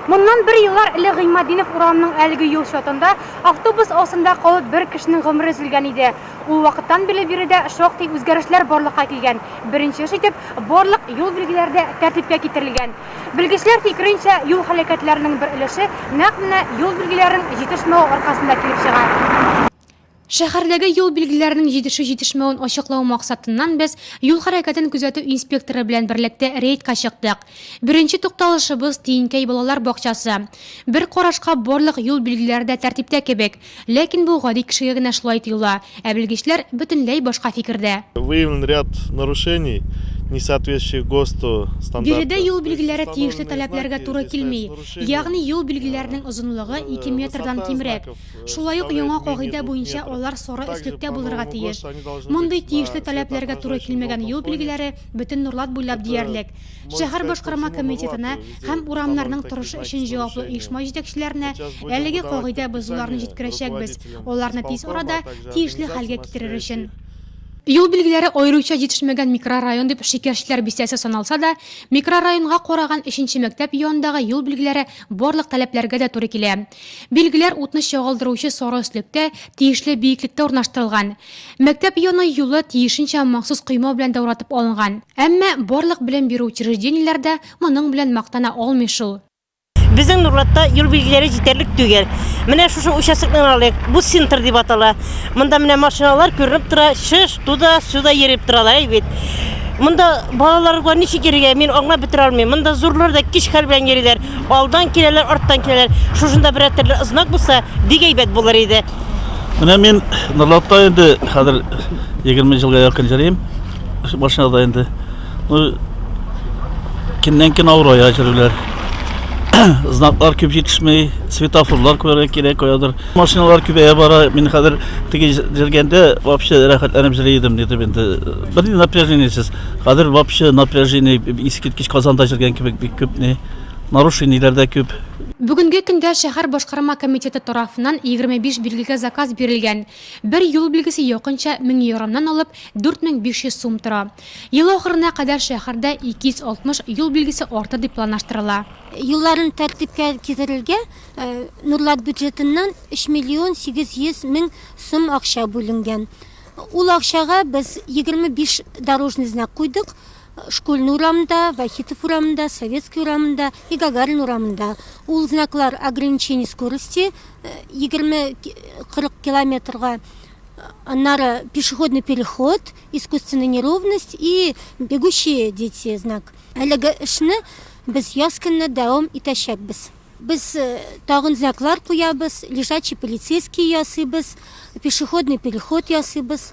Моннан бер еллар элек Гыйматдинов урамының әлеге юл чатында автобус астында калып бер кешенең гомере өзелгән иде. Ул вакыттан бирле биредә шактый үзгәрешләр барлыкка килгән. Беренче эш итеп, барлык юл билгеләре дә тәртипкә китерелгән. Белгечләр фикеренчә, юл һәлакәтләренең бер өлеше нәкъ менә юл билгеләренең җитешмәве аркасында килеп чыга. Шәһәрдәге юл билгеләренең җитешү-җитешмәвен ачыклау максатыннан без юл хәрәкәтен күзәтү инспекторы белән берлектә рейдка чыктык. Беренче тукталышыбыз, Тиенкәй балалар бакчасы. Бер карашка барлык юл билгеләре дә тәртиптә кебек. Ләкин бу гади кешегә генә шулай тоела, ә белгечләр бөтенләй башка фикердә. Выявлен ряд нарушений, не соответствующих ГОСТу стандарты. Биредә юл билгеләре тиешле таләпләргә туры килми, ягъни юл билгеләренең озынлыгы ике метрдан кимрәк. Шулай ук яңа кагыйдә буенча алар соры өслектә булырга тиеш. Мондый тиешле таләпләргә туры килмәгән юл билгеләре бөтен Нурлат буйлап диярлек. Шәһәр башкарма комитетына һәм урамнарның торышы өчен җаваплы оешма җитәкчеләренә әлеге кагыйдә бозуларны җиткерәчәкбез, аларны тиз арада тиешле хәлгә китерер өчен. Юл билгеләре аеруча җитешмәгән микрорайон дип Шикәрчеләр бистәсе саналса да, микрорайонга караган өченче мәктәп янындагы юл билгеләре барлык таләпләргә дә туры килә. Билгеләр утны чагылдыручы сары өслектә, тиешле биеклектә урнаштырылган. Мәктәп яны юлы тиешенчә махсус койма белән дә уратып алынган. Әмма барлык белем бирү учреждениеләр дә моның белән мактана алмый шул. Безнең Нурлатта юл билгеләре җитәрлек түгел. Менә шушы участокны гына алыйк, бу центр дип атала. Монда менә машиналар күренеп тора, шыш, туда, сюда йөреп торалар, әй бит. Монда балаларга ничек йөрергә, мин аңлап бетерә алмыйм. Монда зурлар да кич хәл белән йөриләр. Алдан киләләр, арттан киләләр. Шушында берәр төрле знак булса, бик әйбәт булыр иде. Менә мин Норлатта инде хәзер 20 елга якын җөрим. Машинада инде. Ну, көннән көн авырая җөрүләр. Знаклар күп җитешмей, светофорлар күрә кирәк каядыр. Машиналар күбәя бара. Мин хәзер теге җөргәндә вообще рәхәтләнеп җөри идем, диде инде. Бер напряжениесез. Хәзер вообще напряжение искиткеч Казанда җөргән кебек бик күп ни. Нарушениеләр дә күп. Бүгенге көндә шәһәр башкарма комитеты тарафыннан 25 билгегә заказ бирелгән. Бер юл билгесе якынча 1000 еромнан алып 4500 сум тора. Ел ахырына кадәр шәһәрдә 260 юл билгесе артыр дип планлаштырыла. Юлларын тәртипкә китерергә Нурлат бюджетыннан 3 миллион 800 мең сум акча бүленгән. Ул акчага без 25 дорожный знак куйдык. Школьный урамында, Вахитов урамында, Советский урамында и Гагарин урамында. Ул знаклар ограничение скорости 20-40 э, километрга э, аннары пешеходный переход, искусственная неровность и бегущие дети знак. Әлеге эшне без яз көнне дәвам итәчәкбез. Без тагын знаклар куябыз, лежачий полицейский ясыйбыз, пешеходный переход ясыйбыз,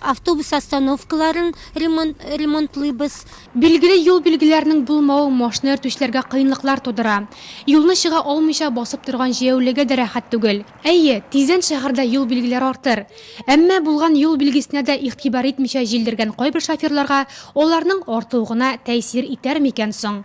автобус остановкаларын ремонтлыйбыз. Билгеле, юл билгеләренең булмавы машина йөртүчеләргә кыенлыклар тудыра. Юлны чыга алмыйча басып торган җәяүлегә дә рәхәт түгел. Әйе, тиздән шәһәрдә юл билгеләре артыр. Әмма булган юл билгесенә дә игътибар итмичә җилдергән кайбер шоферларга аларның артуы гына тәэсир итәр микән соң?